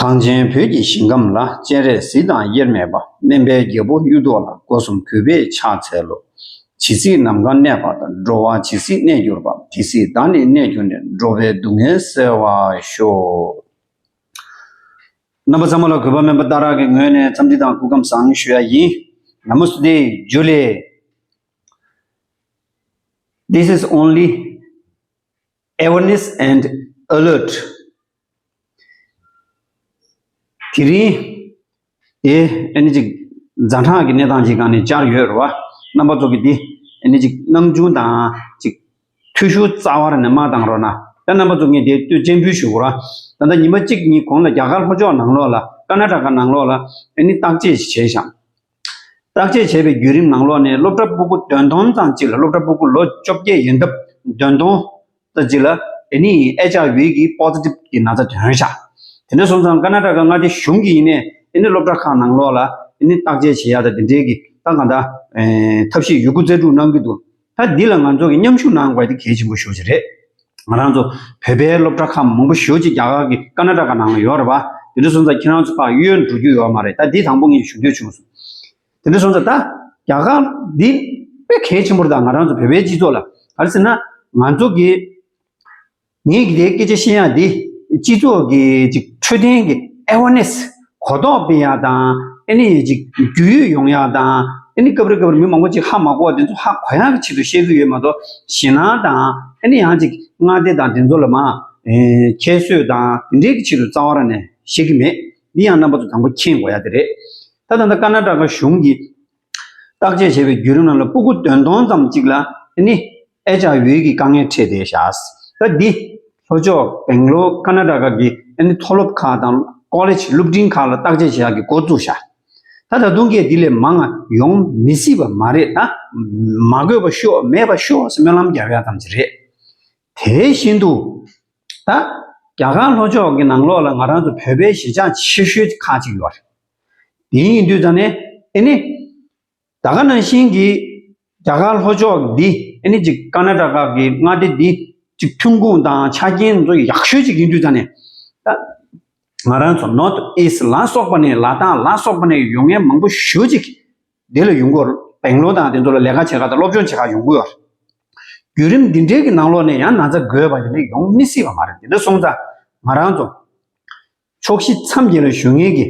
གངས་ཅན་བོད་ཀྱི་ཞིང་ཁམས་ལ་སྤྱན་རས་གཟིགས་དང་དབྱེར་མེད་པ་སྨན་པའི་རྒྱལ་པོ་གཡུ་ཐོག་ལ་སྒོ་གསུམ་གུས་པས་ཕྱག་འཚལ་ལོ། ཇི་སྲིད་ནམ་མཁའ་གནས་པ་དང་འགྲོ་བ་ཇི་སྲིད་གནས་གྱུར་པ་དེ་སྲིད་བདག་ནི་གནས་གྱུར་ནས་འགྲོ་བའི་སྡུག་བསྔལ་སེལ་བར་ཤོག། རྣམ་པ་ཙམ་མ་ལ་གུས་པ་སྨན་པ་རྟ་རག་གི་ངོས་ནས་འཚམས་འདྲི་དང་སྐུ་ཁམས་བཟང་ཞུ་ཡ་ཡིན། Namaste Julie This is only awareness and alert དེ་རིང། དེ་ཨེ་ནི་ཅིག། རྫ་འཕྲང་གི་གནས་སྟངས་ཅིག་གང་ནས་གཅར་ཡོད་རེད་བ། རྣམ་པ་ཚོ་གིས་དེ་ཨེ་ནི་ཅིག་ནམ་རྒྱུན་དང་ཅིག། ཐུ་ཤུ་རྩ་བར་ནས་མ་གཏང་རོགས་གནང། ད་རྣམ་པ་ཚོ་ངས་དེ་ལྟོས་སྤྱན་འབུལ་ཞུ་རོགས་གནང། ད་ལྟ་ཉིན་པ་གཅིག་གཉིས་གོང་ལ་རྒྱ་གར་ལྷོ་ཕྱོགས་ནང་ལོགས་ལ་ཀ་ན་ཀྲ་ཀ་ནང་ལོགས་ལ་ཨེ་ནི་བརྟག་དཔྱད་ཞིག་བྱས་ཤིང། བརྟག་དཔྱད་བྱས་པའི་བརྒྱུད་རིམ་ནང་ལོག་ནས་སློབ་གྲྭ་སྤུ་གུ་བདུན་སྟོང་ཙམ་གཅིག་ལ་སློབ་གྲྭ་སྤུ་གུ་ལོ་བཅོ་བརྒྱད་ཡིན་སྟབས་བདུན་སྟོང་ཙམ་གཅིག་ལ་དེ་ནི་ཨེ་ཅག་བྷི་གི Positive གི་ན་ཚ་དོན་ཞག་དེ་འདྲ་སོང་ཙང་ཀ་ན་ཀྲ་ཀ་མངའ་སྡེ་གཞུང་གིས་ཡིན་ནས་དེ་ནི་སློབ་གྲྭ་ཁག་ནང་ལོག་ལ་དེ་ནི་བརྟག་དཔྱད་བྱེད་ཡག་དང་དེ་འབྲེལ་གྱི་ཏང་གང་དག་ཐབས་ཤེས་ཡོད་རྒུ་རྩལ་སྤྲུགས་གནང་གི་འདུག། ད་འདི་ལ་ང་ཚོ་གིས་མཉམ་ཞུགས་གནང་དགོས་དེ་གལ་ཆེན་པོ་ཤོས་ཅིག་རེད། ང་རང་ཚོ་བོད་པའི་སློབ་གྲྭ་ཁག་མང་པོ་ཞོལ་གྱི་རྒྱ་གར་གྱི་ཀ་ན་ཀྲ་ཀ་ནང་ལ་ཡོད་རེད་པ། དེ་འདྲ་སོང་ཙང་ཁྱེད་རང་ཚོ་ཕ་ཡུལ་འགྲོ་རྒྱུ་ཡོད་མ་རེད་ད་འདི་དང་པོ་ངས་ཞུ་འདོད་བྱུང་སོང། དེ་འདྲ་སོང་ཙང་ད་རྒྱ་གར་འདི་དཔེ་གལ་ཆེན་པོ་རེད་ད་ང་རང་ཚོ་བོད་པའི་སྤྱི་ཚོགས་ལ་ག་རེ་ཟེར་ན་ང་ཚོ་གིས། ངས་འདིའི་སྐད་ཆ་བཤད་ཡང་འདི་སྤྱི་ཚོགས་ཀྱི་ཅིག་འཕྲོད་བསྟེན་གྱི Awareness གོ་རྟོགས་སྤེལ་ཡང་དང་ཨེ་ནི་ཅིག་རྒྱུས་ཡོད་ཡོང་ཡང་དང་ཨེ་ནི་སྐབས་རེ་སྐབས་རེ་མི་མང་པོ་ཅིག་ཧ་མ་གོ་བ་དེ་ཚོ་ཧ་གོ་ཡང་གི་ཆེད་དུ་བཤད་རྒྱུ་ཡོད་མ་གཏོགས་ཞེད་སྣང་དང་ཨེ་ནི་ཡང་ཅིག་མངའ་སྡེ་དང་དེ་ཚོ་ལ་མ་ཁྱད་གསོད་དང་དེ་འདྲའི་གི་ཆེད་དུ་རྩ་བ་ར་ནས་བཤད་གི་མེད་འདི་ཡང་རྣམ་པ་ཚོ་དང་པོ་མཁྱེན་དགོས་ཡ་དེ་རེད་ད་ད་ལྟ་ཀ་ན་ཀྲ་ཀ་གཞུང་གིས་བརྟག་དཔྱད་བྱས་པའི་བརྒྱུད་རིམ་རྣམས་ལ་སྤུ་གུ་བདུན་སྟོང་ཙམ་གཅིག་ལ་ནི། ཨེ་ཅག་ཡུལ་གྱི་དཀའ་ངལ་འཕྲད་དེ་བཞག། སྐབས་འདི། ལྷོ་ཕྱོགས་བེང་ལོ་ཀ་ན་ཀྲ་ཁ་གི་ཨེ་ནི་མཐོ་སློབ་ཁག་དང་ཀོ་ལེ་ཆི་སློབ་འབྲིང་ཁག་ལ་བརྟག་དཔྱད་བྱེད་ཡག་གི་འགོ་བཙུགས་བཞག། ད་ད་དུང་སྐད་འདི་ལས་མང་ང་ཡོང་མི་སྲིད་པ་མ་རེད་ད། མ་དགོས་པ་ཤོག་མེད་པ་ཤོག་སེ་སྨོན་ལམ་རྒྱབ་ཡག་ཙམ་ཞིག་རེད། དེ་བཞིན་དུ། ད། རྒྱ་གར་ལྷོ་ཕྱོགས་ཀྱི་ནང་ལོགས་ལ་ང་རང་ཚོ་བོད་པའི་གཞིས་ཆགས་ཆེ་ཤོས་ཁག་ཅིག་ཡོད་རེད། དེ་ཡིན་དུས་ཙང་ནས་ཨེ་ནི། ད་ག་ནང་བཞིན་གྱི་རྒྱ་གར་ལྷོ་ཕྱོགས་འདི་ཨེ་ནི་ཅིག་ཀ་ན་ཀྲ་ཀ་གི་མངའ་སྡེ་འདི་ཅིག་ཐོན་ཁུངས་དང་ཆ་རྐྱེན་མཛོ་ཡག་ཤོས་ཅིག་ཡིན་དུས་ཙང་ནས། ད་ང་རང་ཚོ North East ལ་སོགས་པ་ནས་ལ་དྭགས་ལ་སོགས་པ་ནས་ཡོང་མཁན་མང་པོ་ཞུ་ཅིག་འདི་ལ་ཡོང་གོ་བེང་ལོ་དང་དེ་ཚོ་ལ་ལས་ཀ་བྱེད་ཁག་དང་སློབ་སྦྱོང་བྱེད་ཁག་ཡོང་གོ། བརྒྱུད་རིམ་འདི་འདྲའི་གི་ནང་ལོགས་ནས་ཡང་ན་ཚ་དགོས་པ་དེ་འདྲ་ཡོང་མི་སྲིད་པ་མ་རེད་དེ་འདྲ་སོང་ཙང་ང་རང་ཚོ་ཕྱོགས་བཞི་མཚམས་བརྒྱད་ལ་བཞུགས་མཁན་གྱི་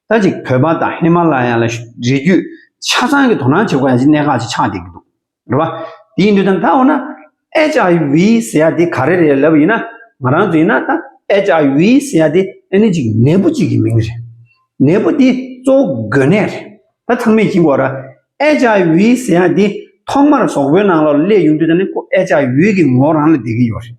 ད་ཅིག་བོད་པ་དང་ཧི་མ་ལ་ཡ་ལ་རི་རྒྱུད་ཆ་ཚང་གི་དོ་སྣང་བྱེད་དགོས་ཡ་གཅིག་གནད་འགག་ཅིག་ཆགས་བསྡད་ཀྱི་འདུག་རེད་བ། དེ་ཡིན་དུས་ད་ད་འོ་ན HIV ཟེར་ཡ་དེ་ག་རེ་རེད་ལབ་ཡིན་ན་ང་རང་ཚོ་ཡིན་ན་ད HIV ཟེར་ཡ་དེ་ཨེ་ནི་ཅིག་ནད་འབུ་ཅིག་གི་མིང་རེད། ནད་འབུ་དེ་གཙོ་བོ་འགོས་ནད་རེད། ད་ཚང་མས་གྱིས་འགོ་ར HIV ཟེར་ཡ་དེ་ཐོག་མར་ཟོག་པོའི་ནང་ལ་སླེབས་ཡོང་དུས་ད་ནི་ཁོ HIV གི་ངོ་རང་ལ་བསྡད་ཀྱི་ཡོད་རེད།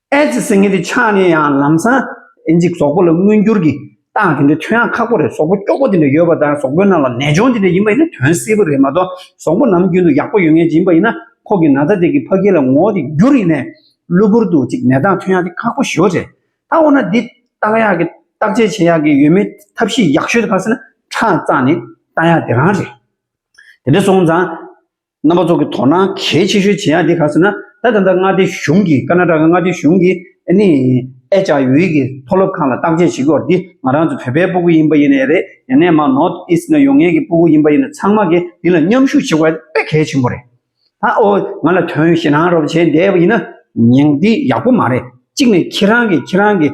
ཨེ་ཙི་སྲིན་ངན་དེ་ཆགས་ནས་ཡང་ལམ་སང། ཨེ་ཙི་ཟོག་པོ་ལ་མངོན་འགྱུར་གྱི་རྟགས་དེ་འདྲའི་ཐོན་ཡག་ཁག་པོ་རེད་ཟོག་པོ་སྐྱོ་པོ་དེ་འདྲ་ཡོད་པ་དང་ཟོག་པོའི་ནང་ལ་ནད་གཅོང་དེ་འདྲ་ཡིན་པ་ཡིན་ན་དོན་སེལ་པོ་རེད་མ་གཏོགས་ཟོག་པོ་ནམ་རྒྱུན་དུ་ཡག་པོ་ཡོད་ངེས་ཅན་ཡིན་པ་ཡིན་ན་ཁོག་གི་ན་ཚ་དེ་གི་ཕ་སྐད་ལ་ངོ་དེ་འགྱུར་ཡིན་ནས། གློ་བུར་དུ་ཅིག་ནད་རྟགས་ཐོན་ཡག་དེ་ཁག་པོ་ཞོ་རེད། ད་འོ་ན་འདི་བརྟག་ཡག་གི་བརྟག་དཔྱད་བྱེད་ཡག་གི་ཡོད་མེད་ཐབས་ཤེས་ཡག་ཤོས་དེ་ག་ཟེར་ན་ཁྲག་གཙག་ནས་བལྟ་ཡག་དེ་རང་རེད། དེ་འདྲ་སོང་ཙང། རྣམ་པ་ཚོགས་ཀྱི་དོ་སྣང་གལ་ཆེ་ཤོས་ཇི་ཡང་དེ་ག་ཟེར་ན་ད་ད་ལྟ་མངའ་སྡེ་གཞུང་གིས་ཀ་ན་ཀྲ་ཀ་མངའ་སྡེ་གཞུང་གིས་ཨ་ནི་ཨེ་ཅག་ཡུའི་གི་མཐོ་སློབ་ཁང་ལ་བརྟག་དཔྱད་བྱེད་སྐོར་འདི་ང་རང་ཚོ་བོད་པའི་སྤུ་གུ་ཡིན་པ་ཡིན་ནའི་རེད་ཡ་ནས་མ་ནོར་ཨི་སི་ན་ཡོང་ངེས་ཀྱི་སྤུ་གུ་ཡིན་པ་ཡིན་ན་ཚང་མ་གིས་འདི་ལ་མཉམ་ཞུགས་བྱེད་དགོས་དཔེ་གལ་ཆེན་པོ་རེད་ད་ཨོ་ང་ལ་དོན་ཞེ་སྣང་རོབ་བྱས་འདས་པ་ཡིན་ན་ཉིང་འདི་ཡག་པོ་མ་རེད་གཅིག་ནས་ཁྱེད་རང་གིས་ཁྱེད་རང་གིས་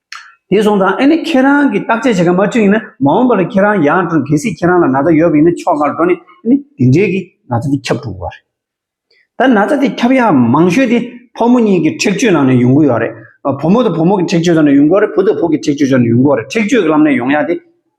དེ་སོང་ཙང་ཨེ་ནི་ཁྱེད་རང་གིས་བརྟག་དཔྱད་བྱེད་མཁན་མ་བསྐྲུན་ཡིན་ན་མ་འོངས་པར་ཁྱེད་རང་ཡང་བསྐྲུན་གལ་སྲིད་ཁྱེད་རང་ལ་ན་ཚ་ཡོད་པ་ཡིན་ན་ཕྱོགས་སྔར་འགྲོ་ནས་ཨེ་ནི་དེ་འབྲེལ་གྱི་ན་ཚ་དེ་ཁྱབ་འགྲོ་གི་རེད། ད་ན་ཚ་དེ་ཁྱབ་ཡ་མང་ཤོས་དེ་ཕོ་མོ་གཉིས་ཀྱི་འཁྲེགས་གཅོད་ནང་ནས་ཡོང་གི་ཡོད་རེད། བུ་མོ་དང་བུ་མོ་གི་འཁྲེགས་གཅོད་ནང་ནས་ཡོང་གི་ཡོད་རེད་བུ་དང་བུ་གི་འཁྲེགས་གཅོད་ནང་ནས་ཡོང་གི་ཡོད་རེད་འཁྲེགས་གཅོད་ལམ་ནས་ཡོང་ཡ་དེ།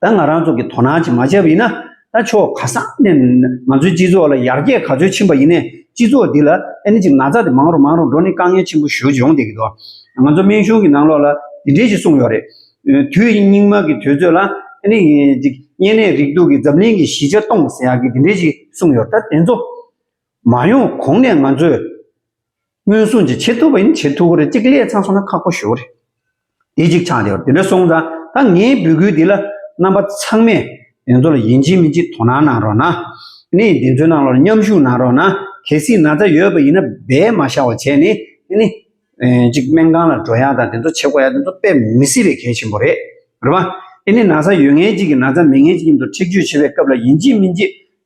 ད་ང་རང་ཚོ་གི་དོ་སྣང་བྱེད་མ་བྱས་པ་ཡིན་ན་ད་ཆོག་ག་ས་ནས་ང་ཚོའི་སྤྱི་ཚོགས་ལ་ཡར་རྒྱས་ག་ཚོད་ཕྱིན་པ་ཡིན་ནས་སྤྱི་ཚོགས་འདི་ལ་ཨནི་ཅིག་ན་ཚ་དེ་མང་རུང་མང་རུང་འགྲོ་ནི་དཀའ་ངལ་ཆེན་པོ་ཞོ་ཡོང་སྡད་གི་འདུག་ང་ཚོ་སྨན་གཞུང་གི་ནང་ལོགས་ལ་དེ་འདྲས་ཞིག་གསུངས་ཡོག་རེད། དུས་སྙིགས་མ་གི་དུས་ཚོད་ལ་ཨནི་ཅིག་གཉན་ནད་རིགས་དུག་གི་འཛམ་གླིང་གི་གཞི་ཆགས་གཏོང་ཟེར་ཡག་གི་དེ་འདྲས་ཞིག་གསུངས་ཡོག་ད་དེ་ཚོ་མ་ཡོང་གོང་ནས་ང་ཚོས། སྔོན་སོང་ཅིག་བྱེད་ཐུབ་པ་ཡིན་ན་བྱེད་ཐུབ་ཀྱི་རེད་གཅིག་ལས་ཚང་སོང་ན་ཁག་པོ་ཞུ་གི་རེད། དེ་གཅིག་ཆགས་བསྡད་པ་དེ་འདྲ་སོང་ཙང་ད་ངའི་འབོད་སྐུལ་འདི་ལ་རྣམ་པ་ཚང་མས་དེ་ཚོ་ལ་ཡིན་གཅིག་མིན་གཅིག་དོ་སྣང་གནང་རོགས་གནང། ནི་དེ་ཚོའི་ནང་ལོར་མཉམ་ཞུགས་གནང་རོགས་གནང་གལ་སྲིད་ན་ཚ་ཡོད་པ་ཡིན་ན་འབད་མ་ཤ་བ་བྱས་ནས་ནི། གཅིག་སྨན་ཁང་ལ་འགྲོ་ཡ་དང་དེ་ཚོ་བྱེད་དགོ་ཡ་དེ་ཚོ་དཔེ་མི་སྲིད་པའི་གལ་ཆེན་པོ་རེད། རེད་བ། ནི་ན་ཚ་ཡོད་ངེས་གཅིག་གི་ན་ཚ་མེད་ངེས་གཅིག་གི་མདོ་ཁྲིགས་བརྗོད་བྱེད་པའི་སྐབས་ལ་ཡིན་གཅིག་མིན་གཅིག་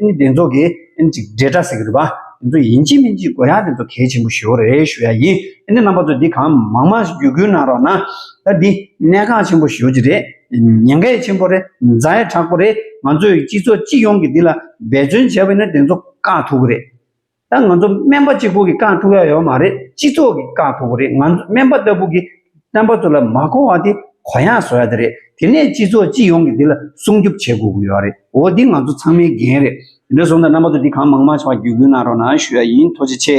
ཨིན་དེ་ཚོ་གི་ཨིན་ཅིག་འབྲེལ་སྒྲ་ཟེར་གི་འདུག་པ་དེ་ཚོ་ཡིན་གཅིག་མིན་གཅིག་གོ་ཡ་དེ་ཚོ་གལ་ཆེན་པོ་ཞོ་རེད་ཞུ་ཡ་ཡིན་ཨིན་རྣམ་པ་ཚོ་འདི་གང་མང་མང་ཞིག་རྒྱུད་སྐུལ་གནང་རོགས་གནང་ད་འདི་གནད་འགག་ཆེན་པོ་ཞོ་གཅིག་རེད་ཉེན་ཁའི་ཆེན་པོ་རེད་མཛའ་ཡ་དྲག་པོ་རེད་ང་ཚོའི་སྤྱི་ཚོགས་སྤྱི་ཡོངས་ཀྱི་འདི་ལ་འབད་བརྩོན་བྱས་པ་ཡིན་ན་དེ་ཚོ་བཀག་ཐུབ་གི་རེད། ད་ང་ཚོ་སྨན་པ་གཅིག་པུ་གིས་བསྐང་ཐུབ་ཡ་ཡོད་མ་རེད་སྤྱི་ཚོགས་ཀྱིས་བསྐང་ཐུབ་རེད་ང་ཚོ་སྨན་པ་ལྟ་བུ་གིས་རྣམ་པ་ཚོ་ལ་མ་གོ་བ་དེ་གོ་ཡང་བཟོ་ཡ་དེ་རེད་དེ་ནས་སྤྱི་ཚོགས་སྤྱི་ཡོངས་ཀྱིས་འདི་ལ་སྲུང་སྐྱོབ་བྱེད་དགོས་ཀྱི་ཡོད་རེད་འོ་འདི་ང་ཚོ་ཚང་མའི་འགན་རེད། དེ་འདྲ་བཟོ་འདྲ་རྣམ་པ་ཚོ་འདི་གང་མང་མང་ཆེ་བ་བརྒྱུད་སྐུལ་གནང་རོགས་གནང་ཞུ་ཡ་ཡིན་ཐུགས་རྗེ་ཆེ།